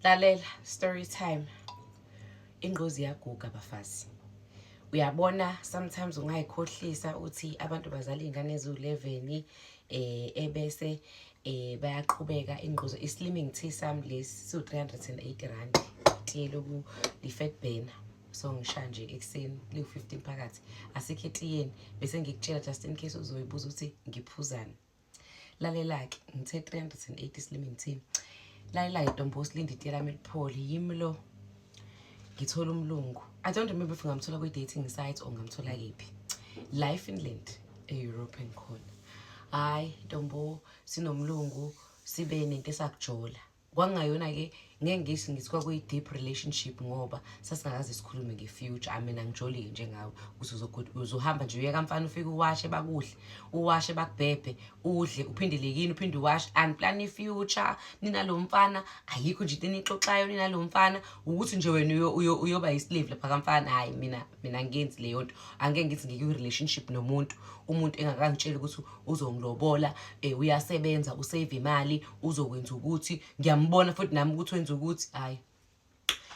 lalela story time ingquzi yaguga bafazi uyabona sometimes ungayikhohlisa ukuthi abantu bazala iy'ngane eziwu-11 eh ebese eh bayaqhubeka ingquzo i-slimming tea sam lesi siwu-380 rand itiye loku-lifet banner so ngisha nje ekuseni liwu-15 phakathi asikho etiyeni bese ngikutshela just in case uzoyibuza ukuthi ngiphuzani lalela-ke ngithe 380 silimi ngithini lalela-ke ntombo usilinde itiye lami liphole yimi lo ngithola umlungu i don't remember if ngamthola kwi-dating site or ngamthola kephi la efinland e-european khona hhayi ntombo sinomlungu sibe nento esakujola kwakungayona-ke ngeke ngisho ngithi kwakuyi-deep relationship ngoba sasingakaze sikhulume nge-future ami mina ngijolike njengawe ukuthi uzohamba nje uyeka mfana ufike uwashe bakuhle uwashe bakubhebhe udle uphindele yini uphinde uwashe and plan i-future ninalo mfana ayikho nje into enixoxayo ninalo mfana ukuthi nje wena uyoba yi-slave lapha kamfana hhayi mina mina ngenzi leyo nto angeke ngithi ngike kwi-relationship nomuntu umuntu engakangitsheli ukuthi uzongilobola um uyasebenza usave imali uzokwenza ukuthi ngiyambona futhi nami ukuthi wenza ukuthi hhayi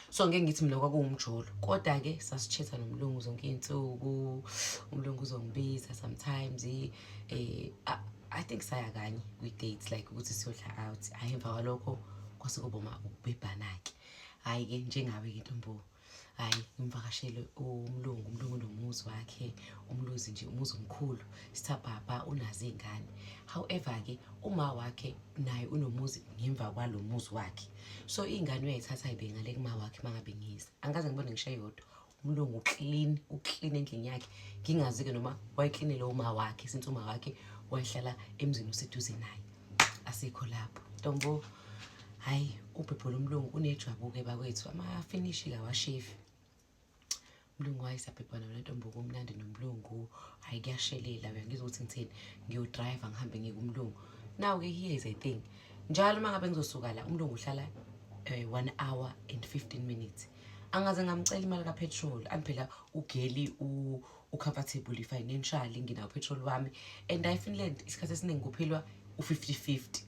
so ngeke ngithi mina kwakuwumjolo kodwa-ke sasithetha nomlungu zonke iy'nsuku umlungu uzongibiza sometimes um i think saya kanye kwi-date like ukuthi siyodla out hhayi emva kwalokho kwase kuboma ukubhebhana-ke hhayi-ke njengawe-ke ntomboa hayi ngimvakashele umlungu umlungu nomuzi wakhe umluzi nje umuzi omkhulu sithabhabha unazo iy'ngane however-ke uma wakhe naye unomuzi ngemva kwalo muzi wakhe so iy'ngane uyayithatha ayibengale kuma wakhe uma ngabe ngiza angikaze ngibone ngisho eyodwa umlungu uklin uklin endlini yakhe ngingazi-ke noma wayeklinele uma wakhe since uma wakhe wayehlala emzini oseduze naye asikho lapho ntombo hhayi ubhebhula umlungu unejwabuke bakwethu amafinishi kawashefi umlungu wayesabhebhana mina ntombo kumnandi nomlungu hhayi kuyashelela uyangizwa ukuthi ngithini ngiyodrayiva ngihambe ngikumlungu now-ke here is a thing njalo uma ngabe ngizosuka la umlungu uhlala um one hour and fifteen minutes angaze ngamcela imali kapetrol andiphela ugeli ucomfortable financially nginawo petrol wami and i finland isikhathi esiningi kuphilwa u-fifty fifty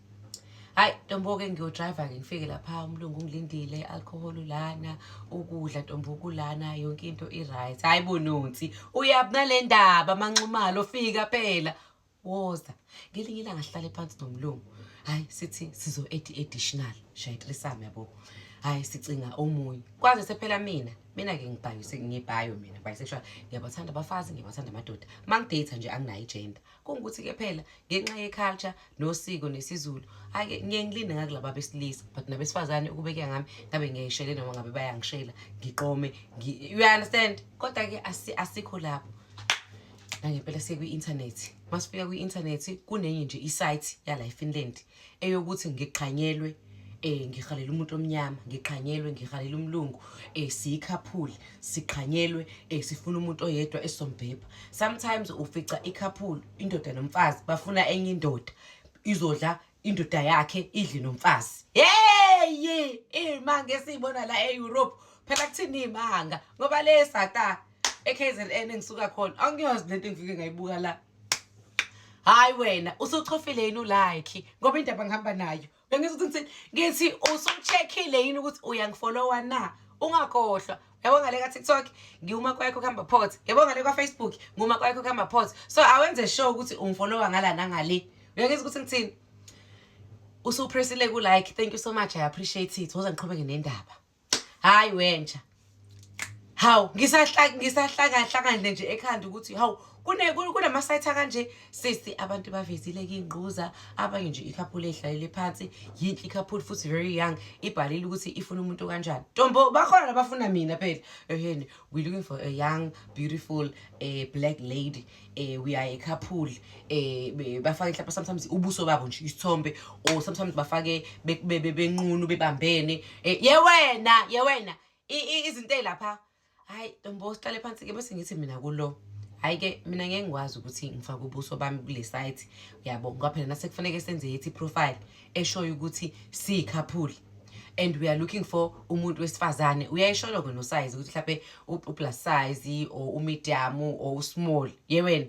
hayi ntombo-ke ngiyodriver-ke ngifike lapha umlungu ungilindile i-alcohol lana ukudla ntombo kulana yonke into i-right hhayi bononsi uyabunale ndaba amanxumalo fika phela woza ngelinye ilanga sihlale phansi nomlungu hayi sithi sizo edi additional shayitrisame yabo hayi sicinga omunye kwaze sephela mina mina ke ngibhayo sengibhayo mina bisexual ngiyabathanda abafazi ngiyabathanda amadoda mangidate nje anginayo igender kungukuthi ke phela ngenxa yeculture nosiko nesizulu ake ngiye ngilinde ngakulaba besilisa but nabesifazane ukubekeka ngami ngabe ngiyayishele noma ngabe bayangishela ngiqome you understand kodwa ke asikho lapho nangempela sekwi-inthanethi masifika kwi-inthanethi kunenye nje isayithi yala efinland eyokuthi ngiqhanyelwe eh ngihalela umuntu omnyama ngiqhanyelwe ngihalela umlungu eh siyikhaphuli siqhanyelwe eh sifuna umuntu oyedwa esombhebha sometimes ufica ikhaphuli indoda nomfazi bafuna enye indoda izodla indoda yakhe idli nomfazi yeyi iy'manga esiyibona la e-europe phela kuthini iy'manga ngoba le sata e-k z n engisuka khona angiyazi le nto engifike ngayibuka la hhayi wena usuchofile yini ulayikhi ngoba indaba ngihamba nayo bengithi ngithi usuchekhile yini ukuthi uyangifolowa na ungakhohlwa yabo ngale ka-tiktok ngiwuma kwakho kuhamba pot yabo ngale kwafacebook ngiwuma kwakho kuhamba pot so awenze sure ukuthi ungifolowa ngala nangale uyangeza ukuthi ngithini usupressile ku-like thank you so much i appreciate it woza ngiqhubeke nendaba hhayi wentsha hawu ngisahlakahlakandle nje ekhanda ukuthi hawu kunama-site akanje sisi abantu bavezile kingquza abanye nje ikhaphula edlalele phansi yinhle ikhaphula futhi very young ibhalile ukuthi ifuna umuntu kanjani ntombo bakhona labafuna mina phela eheni we looking for a young beautiful uh, black lady uh, we are a couple uh, bafake mhlawumbe sometimes ubuso babo nje isithombe or sometimes bafake benqunu bebambene yewena yewena izinto lapha hayi ntombo sihlale phansi-ke bese ngithi mina kulo hhayi-ke mina ngeke ngikwazi ukuthi ngifake ubuso bami kule site uyabo ngoba phela nasekufaneke senze yethi profile eshoyo ukuthi siyikhaphuli and we are looking for umuntu wesifazane uyayisholo-ke nosize ukuthi mhlawumpe uplus size or umedium or usmall ye wena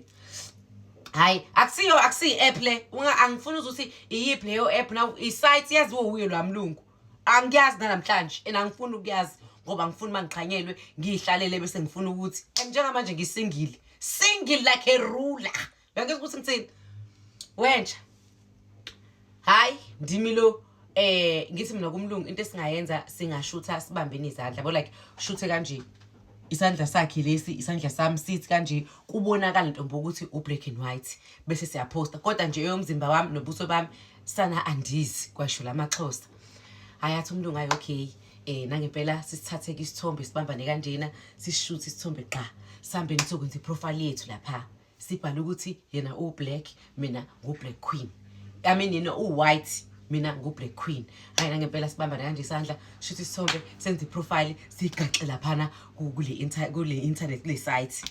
hayi akusiyo akusiyi-app le angifuni uze ukuthi iyiphi leyo app na isite yaziwo wuye lwa mlungu angiyazi nanamhlanje and angifuni ukuyazi ngoba ngifuna uma ngiqhanyelwe ngiyihlalele bese ngifuna ukuthi and njengamanje ngisingile single like a ruler uyangizwa ukuthi ngithini wenja hayi ndimi lo eh ngithi mina kumlungu into esingayenza singashutha sibambene izandla bo like shuthe kanje isandla sakhe lesi isandla sami sithi kanje kubonakala ntombo ukuthi ubreak and white bese siyaposta kodwa nje eyomzimba wami nobuso bami sana andizi kwasho lamaxhosa hayathi umuntu ngayo okay eh nangempela sisithathe ke isithombe sibambane kanjena sishoot isithombe qha sambe nisokwenza iprofile yethu lapha sibhala ukuthi yena u black mina ngu black queen i mean yena u white mina ngu black queen hayi nangempela sibambane kanje isandla shoot isithombe senze iprofile sigaxe lapha na kule kule internet kule site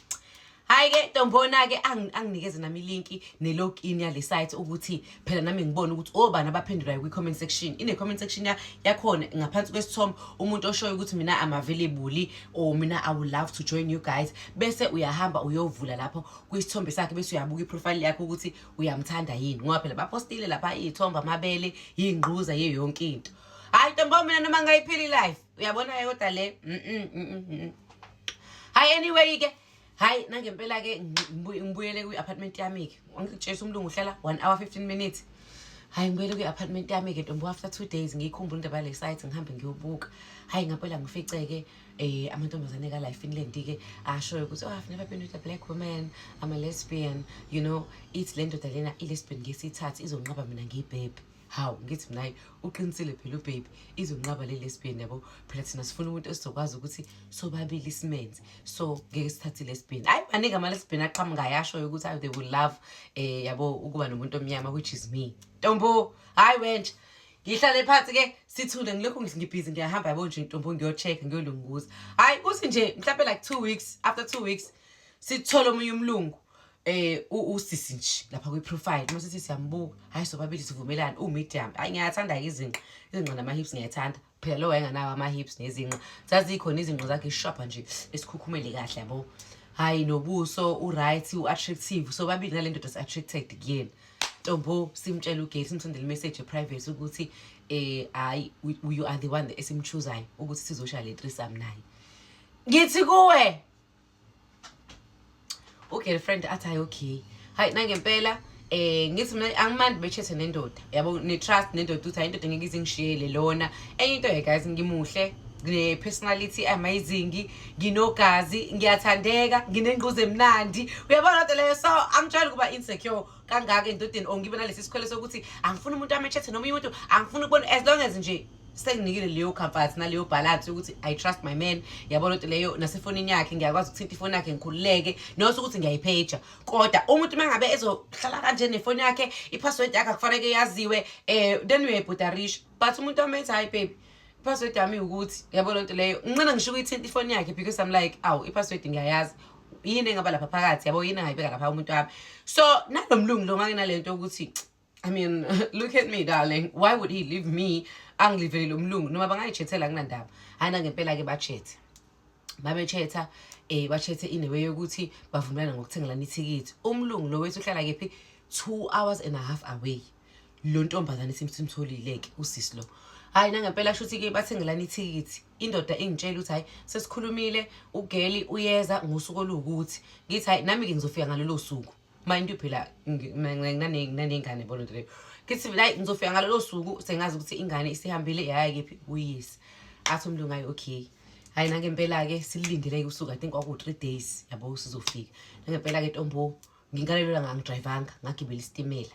hayi ke ntombona ke anginikeze nami ilinki ne-login yale site ukuthi phela nami ngibone ukuthi obani oh, abaphendulayo kwi-comment section ine-comment section yakhona ngaphansi kwesithombe umuntu oshoyo ukuthi mina am available or mina i would love to join you guys bese uyahamba uyovula lapho kwisithombe sakhe bese uyabuka iprofile yakho ukuthi uyamthanda yini ngoba phela bapostile lapha iy'thombe amabele yingquza ye yonke into hayi ntombo mina noma ngayiphili life uyabona-ke kodwa le mm -mm, mm -mm. mm. hayi anyway-ke hayi nangempela-ke ngibuyele kwi-apartment yami-ke ngitshesa umlungu uhlala one hour fifteen minutes hayi ngibuyele kwi-apartment yami-ke ntombo after two days ngiyikhumbula indaba yale site ngihambe ngiyobuka hayi ngampela ngifice-ke um eh, amantombazane kala ifinland-ke ashoyo ukuthi oh i've never been with a black woman i'm a lesbian you know ithi le ndoda lena i-lesbian ngesithathu izonqaba mina ngiyibhebhe hawu ngithi mina hayi uqinisile phela ubaby izonqaba le lesbian yabo phela thina sifuna umuntu esizokwazi ukuthi sobabili isimenzi so ngeke sithathe lesbian hayi maningi ama-lesbian aqhamukayo ashoyo ukuthi hayi they will love um yabo ukuba nomuntu omnyama which is me ntombo hhayi wentsha ngihlale phansi ke sithule ngilokhu ngibhizi ngiyahamba yabo nje ntombo ngiyocheck-a ngiyolunguza hhayi kuthi nje mhlawumpe like two weeks after two weeks sithole omunye umlungu eh usisi nje lapha kwi profile uma sithi siyambuka hayi sobabili sivumelana u medium hayi ngiyathanda ke izinqa izinqa nama hips ngiyathanda phela lo wayenganawo ama hips nezinqa zazikhona izinqa zakhe sharp nje esikhukhumele kahle yabo hayi nobuso u right u attractive sobabili ngale ndoda si attracted kuyena Tombo simtshela uGay simsendele imessage private ukuthi eh hayi you are the one esimchuzayo ukuthi sizosha le threesome naye ngithi kuwe ugirlfriend athi hayi okay hayi nangempela eh ngithi mina angimandi bechethe nendoda yabo ne trust nendoda ukuthi hayi indoda ngeke izingishiyele lona enye into ye guys ngimuhle ne personality amazing nginogazi ngiyathandeka nginengquza emnandi uyabona kodwa leyo so angitshela ukuba insecure kangaka endodeni or ngibe nalesi sikhwele sokuthi angifuni umuntu amechethe noma umuntu angifuni ukubona as long as nje senginikile leyo comfort naleyo balance yokuthi i trust my man yabona ukuthi leyo nasefonini yakhe ngiyakwazi ukuthinta ifoni yakhe ngikhululeke nose ukuthi ngiyayipheja kodwa umuntu uma ngabe ezohlala kanje nefoni yakhe i-password yakhe akufaneke yaziwe um then uyayibhudarish but umuntu amenza hayi baby i-password yami ukuthi yabo loo nto leyo nginqina ngisho ukuyithinta ifoni yakhe because i'm like awu i-password ngiyayazi yini engaba lapha phakathi yabo yini engayibeka lapha umuntu wami so nalo mlungu lo nganginale nto yokuthi I mean, look at me darling. Why would he leave me? Angilivele lo mlungu noma bangayijethela kunandaba. Hayi na ngempela ke bachethe. Babechetha eh bachethe inewe yokuthi bavumelana ngokuthengelana ithikithi. Umlungu lo wethu uhlala kephi 2 hours and a half away. Lo ntombazane simsimtholile ke usisi lo. Hayi na ngempela shuthi ke bathengelana ithikithi. Indoda ingitshela ukuthi hayi sesikhulumile ugeli uyeza ngosuku olukuthi. Ngithi hayi nami ke ngizofika ngalelo suku. mind you phela nginanengane yabona nto leyo kithi la ngizofika ngalolo suku sengazi ukuthi ingane isihambile yaya kephi kuyisi athi umlungu ayi okay hayi nangempela-ke sililindele-ke usuku i think kwaku-three days yabo sizofika nangempela-ke tombo ngingalelwela ngangidrayivanga ngagibela isitimela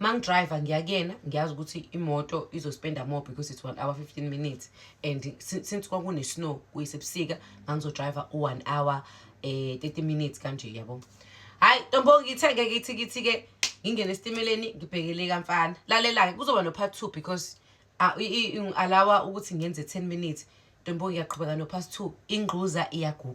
mangidriver ngiya kuyena ngiyazi ukuthi imoto izospenda more because it's one hour 15 minutes and since kwakune-snow kuyisebusika ngangizodriva u-one hour um eh, 30 minutes kanje yabo hhayi ntombo ngithe-ke kithi kithi-ke ngingene esitimeleni ngibhekele kamfana lalela-ke kuzoba no-part two because ah, ngi-alawa ukuthi ngenze 10 minutes ntombo ngiyaqhubeka no-part two ingquza iyaguga